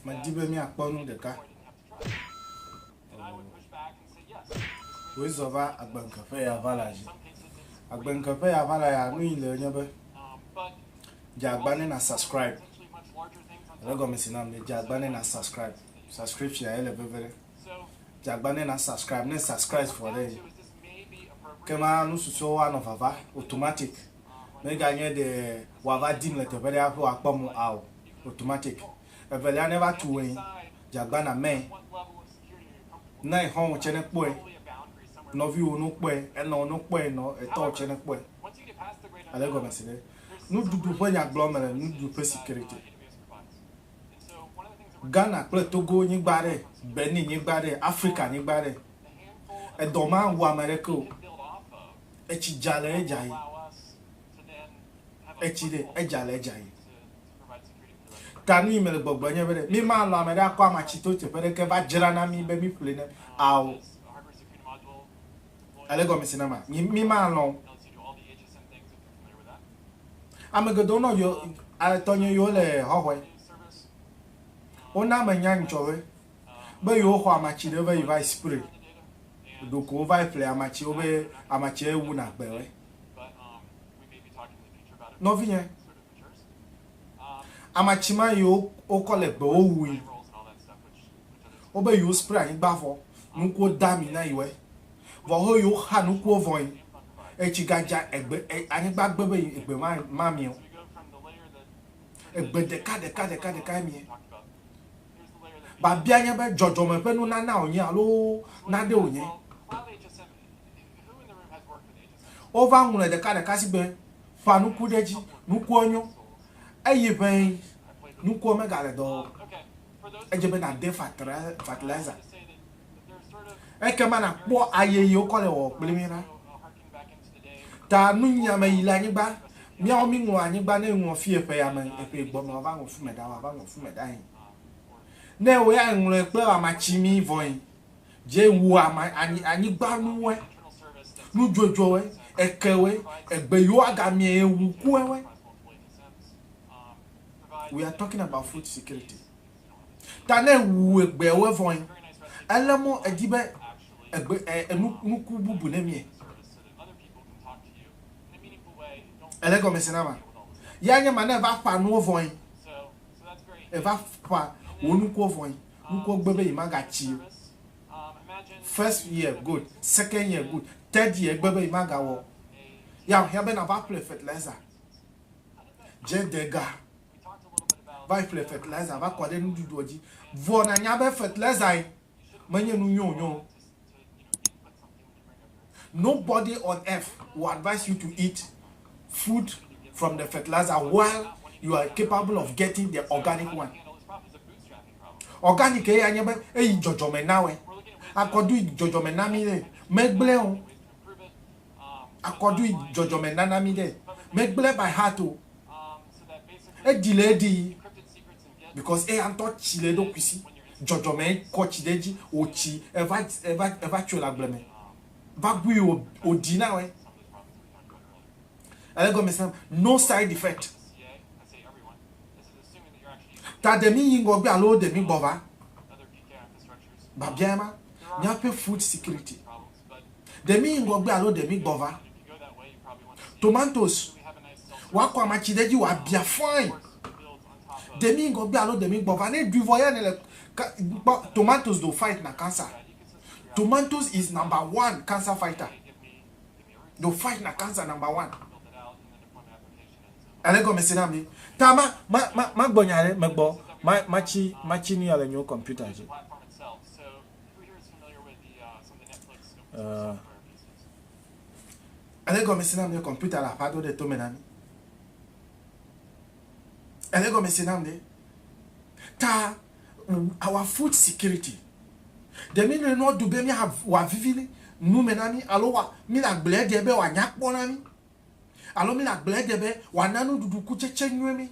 Medi be míakpɔ nu ɖeka. Wòzɔ va agbenkeƒe ya va la dzi. Agbenkeƒe ya va la ya nu yi le nye be dze agba ne na subscribe. Ele gɔme si na be dze agba ne na subscribe. Subscription ya ele veve ɖe. Jagba ne na subscribe ne subscribe vɔ ɖe yi. Kema nu susɔwo anɔ vava automatic. Ne ganye ɖe wava dim le teƒe ɖe aƒe wakpɔ mo ao automatic. Evelia ne va tu wɛn jagba na mɛ. Na exɔwo tse ne kpɔe. Nɔviwo no kpɔe, enɔwo no kpɔe, nɔ etɔwo tse ne kpɔe. Ale gɔmesi ɖe. Nuɖuɖu ƒe nyagblɔ me le nuɖuɖu ƒe security. Ghana kple Togo nyigba ɖe, Benin nyigba ɖe, Afrika nyigba ɖe. Edɔ ma wu ame ɖeke o. Etsi dza le edza yi. Etsi ɖe, edza le edza yi. Ta nu yi mele gbɔgblɔ nye be ɖe mi ma lɔ ame ɖe akɔ ama tsi to teƒe ɖe ke va dzra na mi be mi ƒle ne ao. Ale gɔme se na ma? Mi ma lɔ o. Ame geɖewo nɔ yɔ tɔnye yewo le hɔhɔe. Wona menya nytsɔwe be yewo xɔ amatsi ɖe vayi vayi spray ɖoko wo vayi ƒle amatsi wo be amatsia ye wuna gbe we. Nɔvinye, amatsi ma yewo wokɔ le gbe wo wui. Wo be yewo spray anyigba vɔ nukuwo da mi na yi we. Vɔ ho yo xa nukuo vɔin, etsi ga dja egbe e anyigba gbe be egbe ma ma mieo. Egbe ɖeka ɖeka ɖeka ɖekae mie. Babia nye be djɔdjɔme ƒe nu nana wonye alo nade wonye. Wo va ŋlɔe ɖeka ɖeka sigbe ƒa nuku ɖe dji. Nukuɔ nyo. Eyi ʋɛin nukuɔ me ga le dɔ wɔ o. Edje be na de fatri fatilizer. Ekema nàkpɔ aye yi wokɔ le wɔwɔ kpli mí la. Ta nunya me yi le anyigba, míawo míŋlɔ anyigba ne ŋlɔ fie ƒe ya me, eƒe gbɔ me wòava ŋlɔ fu me ɖa, wòava ŋlɔ fu me ɖa yin. Ne wò ya ŋlɔe kple ama tsi mí vɔ yin, dze wu ama anyi anyigba nuwɔe, nudzodzoe, ekewe, egbe yi woaga mie ye wu kuewe. We are talking about food security. Ta ne èwu egbeawo evɔe, ele mɔ edi be egbe e nu nuku bubu ne mie. Ele gɔme se na ma. Ya nye ma ne eva ƒa nuwo vɔe. Eva ƒa wò nukuwo vɔe. Nukuwo gbe be yi ma ga tsi o. First year good, second year good, third year egbe be yi ma ga wɔ. Ya hiã be na va ƒle fertilizer. Dze dega. va yi ƒle fertilizer va kɔ ɖe nuɖuɖuɔ dzi vɔ nànya be fertilizer menye nu nyɔ nyɔ o. Nobody on earth will advise you to eat food from the fertilizer while you are capable of getting the organic one. Organic eya nye be eyi dzɔdzɔme nawɔe. Akɔdu dzɔdzɔme na mi ɖe megblẽ o. akɔdui dzɔdzɔme nana mi ɖe megble by heart o edi le edi because eya ŋutɔ tsi le eɖokui si dzɔdzɔme kɔ tsi ɖe edzi wòtsi eva eva eva tsoe le agble me va gui o oɖi na wɛ ele gɔme sem no side effect ta de mi yi ŋgɔgbe alo de mi gbɔ va babia ma míaƒe food security Ɖe míyi ŋgɔgbe alo ɖe mígbɔva? Tomatosi wòakɔ amatsi ɖe edzi wòabia fãi. Ɖe míyi ŋgɔgbe alo ɖe mígbɔva? Ne ɖui vɔ ya nèle kpɔ tomatosi do fight na cancer. Tomatosi is number one cancer fighter. Do fight na cancer number one. Ele gɔmese na mí. Ta ma ma ma magbɔ nya ɖe megbɔ matsi matsi nu ya le nyewo kɔmputa dzi. Uh, ele gɔme si nam ɖe kɔmputa le aƒa do ɖe tome na mi ele gɔme si nam ɖe ta our food security ɖe mi nɔe nɔ du be miawa vivi nu me na mi alo wa mi le agblẽ de be wòanya kpɔ na mi alo mi le agblẽ de be wòana nuɖuɖu kutsetse nyuie mi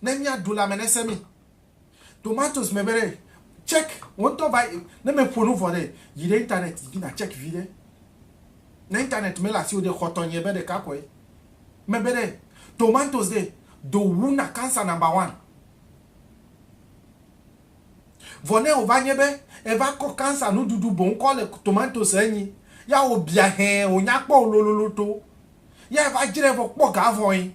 ne miaɖu lãme nese mi Tomatoes me be ɖe check wò ŋutɔ va yi ne meƒo nu vɔ ɖe yi ɖe internet dzi na check vi ɖe. Ne internet mele asiwò ɖe xɔ tɔnye be ɖeka kɔe. Me be ɖe tomatoes ɖe do wu na cancer number one. Vɔ ne wò va nye be eva kɔ cancer nuɖuɖu boŋ kɔ le tomatoes enyi ya wò bia hɛɛ wò nya kpɔ wò lololo to ya eva dzrae vɔ kpɔ ga vɔ yi.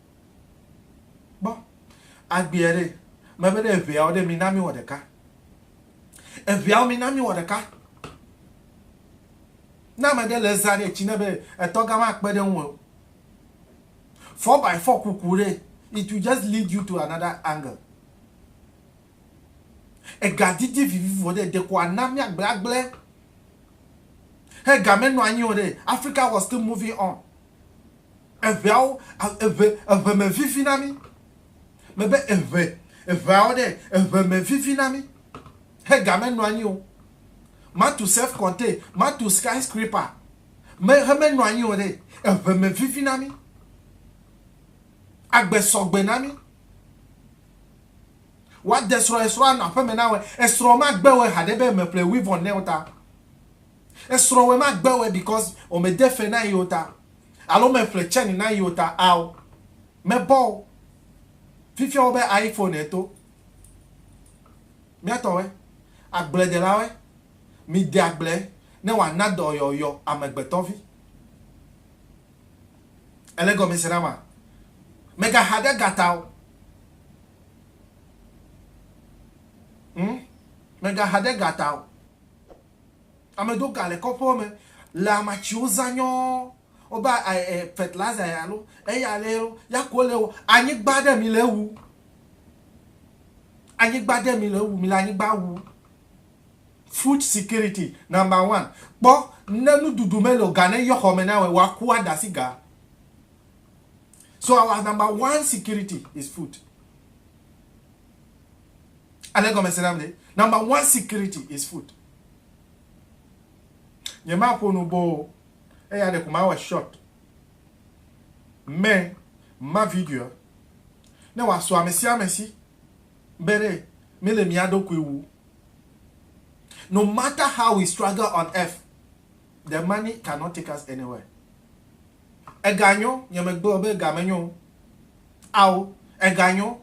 Kpɔ agbea ɖe. Mebe ne eveawo ɖe, mina miwɔ ɖeka. Eveawo, mina miwɔ ɖeka. Ne ame ɖe le zã ɖe, tsi ne be etɔ gã makpe ɖe ŋuwò. Four by four kuku ɖe, it will just lead you to another angle. Ega didi vivivo ɖe, ɖeko ana miagblẽagblẽ. He gamɛ nɔanyi o ɖe, Africa was still moving on. Eŋeawo, eŋe, eŋe me vivi na mí. Mebe eŋe, eŋeawo ɖe, eŋe me vivi na mí. He ga menɔ anyi o. Matu self contain, matu sky scraper, me, he menɔ anyi o ɖe, eŋe me vivi na mí. Agbe sɔgbe na mí. Woade srɔ̃, esrɔ̃ anɔ aƒeme na wò, esrɔ̃ magbe wò haɖe be eme ƒle wivɔn ne wò ta. Esrɔ̃ wɛ ma gbe wɛ because o me de fe na yio ta alo me ƒle chain na yio ta ao. Me bɔ o. Fifia wo be ayi phone e to. Mia tɔ wɛ. Agble de la wɛ. Mi de agble ne wa na dɔ yɔ yɔ amegbetɔ vi. Ele gɔme se na ma? Me ga ha ɖe ga ta o. Hm. Me ga ha ɖe ga ta o. Ame do ga le kɔƒewo me le amatsiwo zã nyɔɔ woba e fertilizer ya lo eya le lo ya ko le wo anyigba ɖe mi le ewu anyigba ɖe mi le ewu mi le anyigba wu food security number one kpɔ ne nuɖuɖu me le ga ne yɔ xɔ me na wɔ wa ku ada si ga so our number one security is food. Ale gɔmese nam ɖe. Number one security is food. Nye ma ƒo nu boo. Eya ɖeko ma wɔ short. Me ma video. Ne wa so ame sia ame si. Bere me le mia ɖo kui wu. No matter how we struggle on earth. the money cannot take us anywhere ega nyo nye me gbe be ega me nyo ao ega nyo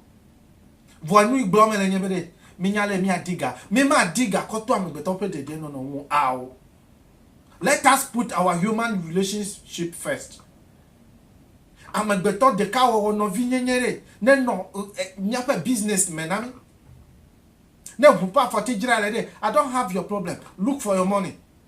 vɔ nu igblɔ me le nye be de mi nya le mi adiga mi ma adiga kɔ to amegbetɔ pe dede no no wo ao let us put our human relationship first amegbetɔ deka wɔ wɔ no vi nye nye re ne no mi ape business me na mi ne hu pa fɔ ti jira le de i don't have your problem look for your money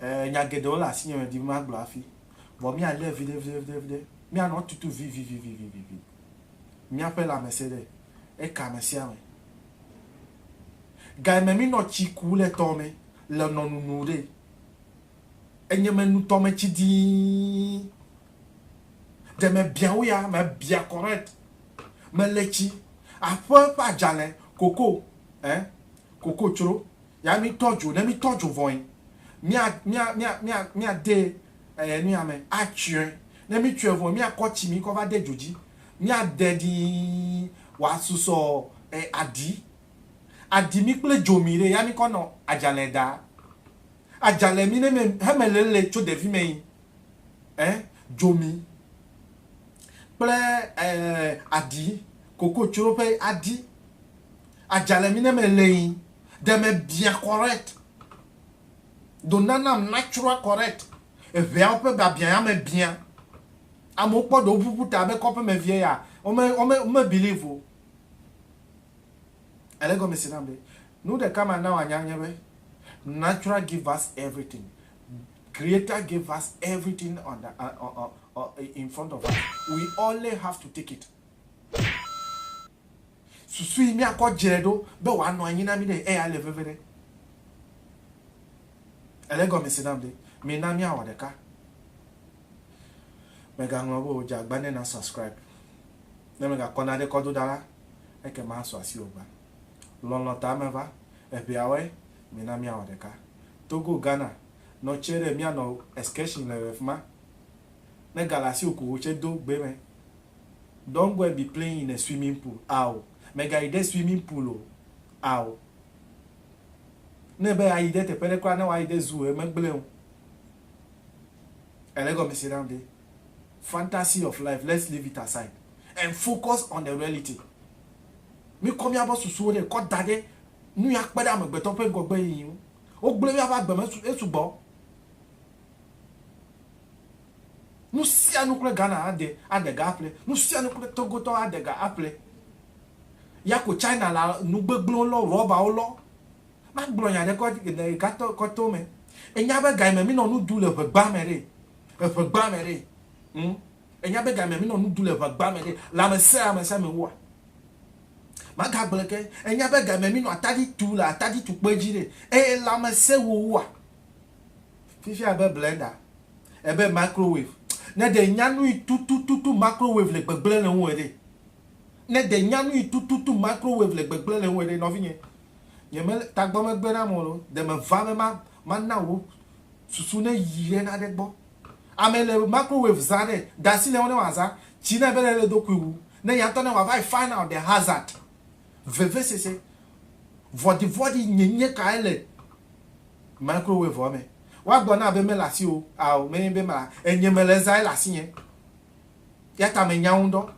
Ɛɛ, nya geɖewo le asinye medi be magblɔ hafi, vɔ míalé viɖeviɖeviɖe. Míanɔ tutu vivivivivivi. Míaƒe lãmesẽɖe eke amesiame. Gayime mínɔ tsi ku le tɔ me le nɔ nunu ɖe. Enyeme nu tɔme tsi dii. Ɖe mebia wo ya? Mebia correct. Mele tsi. Aƒe ƒe adzalɛ, koko, ɛɛ, koko tsro, Ya mi tɔ dzo, ne mi tɔ dzo vɔe, mia, mia, mia, mia, mia de e nuya me, a tsɔe. Ne mi tsɔe vɔe, mia kɔ tsi mi kɔ va de dzo dzi, mia de ɖii wa susɔ e aɖi. Aɖi mi kple dzo mi ɖe, ya mi kɔ nɔ adzalɛ da. Adzalɛ mi ne me he me lele tso ɖevi me yi e dzo mi kple e aɖi, koko tsro ƒe aɖi. Adzalɛ mi ne me le yi. Ɖe mebiã correct? Do nanam natural correct? Eŋeawo ƒe biabiã ya mebiã. Amewo kpɔ ɖewo ʋuʋu ta be kɔƒemevie ya, wome, wome, wome believe o. Ele egɔme se nam be, nu ɖeka mana wòanya nye be, natural give us everything. Creator gave us everything on the, uh, uh, uh, uh, in front of us. We only have to take it. Susu yi míakɔ dzre ɖo be wòanɔ anyi na mí ɖe eya le veve ɖe. Èle gɔme se nam ɖe? Mina míawɔ ɖeka. Mègaŋlɔ be wò dze agba ne na subscribe. Ne mègakɔ naɖe kɔ do ɖa la, ekema asu asiwò gbã. Lɔlɔ̃ ta meva. Eŋeawoe, mina míawɔ ɖeka. Togo, Ghana, nɔ tsɛ ɖe míanɔ excursion le ɣefima. Ne gale asiwò ko wò tsɛ do gbe me. Don't go and be playing in a swimming pool ao, mègayi ɖe swimming pool o ao. Ne ebe yeayi ɖe teƒe ɖe kura ne woayi ɖe zoo megblẽ o. Èle egɔmese nam ɖe? Fantasy of life let's leave it aside and focus on the reality. Mikɔ miabe susuwo ɖe kɔ da ɖe nu ya kpe ɖe amegbetɔ ƒe ŋgɔgbe yiyi ŋu. Wogblẽ míaƒe agbe me esugbɔ. Nu sia nu kple Ghana ade aɖe ga aƒle. Nu sia nu kple Togo tɔ aɖe ga aƒle. Ya ko China la nu gbegblẽwo lɔ, rɔbawo lɔ. Magblɔ nya ɖe le gatɔ kɔto me. Enya be ga yi me mi nɔ nu ɖu le ʋegba me ɖe? Eʋegba me ɖe? Hm? Enya be ga yi me mi nɔ nu ɖu le ʋegba me ɖe? Le ame sia ame sia me woa? Maga gblɔ ke. Enya be ga yi me mi nɔ atadi tu le atadi tukpɔe dzi ɖe? Eye le ame se wo woa? Fifia ebe blender, ebe microwave. Ne ɖe nya nuyi tutututu microwave le gbegblẽ le ŋuwò ɖe? Ne ɖe nya nuyi tututu microwave le gbegblẽ le ŋuwò ɖe? Nɔvinye, nye me, tagbɔ megbe nam o loo, ɖe meva be ma, mana wò susu neyi ɖe naɖe gbɔ. Ame le microwave zã ɖe, de asi le eŋu ne wòazã. Tsi ne ebe le eɖokui wu, ne ya ŋutɔ ne wòava yi find out the hazard. Vevesese, vɔɖivɔɖi nyenye kae le. Microwave ɔ mɛ. Woagblɔ na be mele asiwò ao mɛ be ma enye mele eza ele asinye yata me nya ŋdɔ.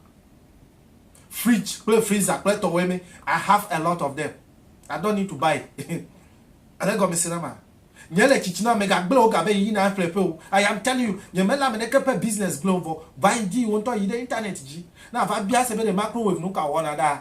Fridge kple freezer kple tɔwɛ mɛ I have a lot of them I don't need to buy ele gɔme se na ma nye le tsitsi na me ga gble wo ga be yina ƒle ƒe o I am telling you nye mele ame ɖeke ƒe business gble o vɔ va yi di wo ŋtɔ yi ɖe internet dzi na va bia se be ɖe microwave nuka wɔna ɖaa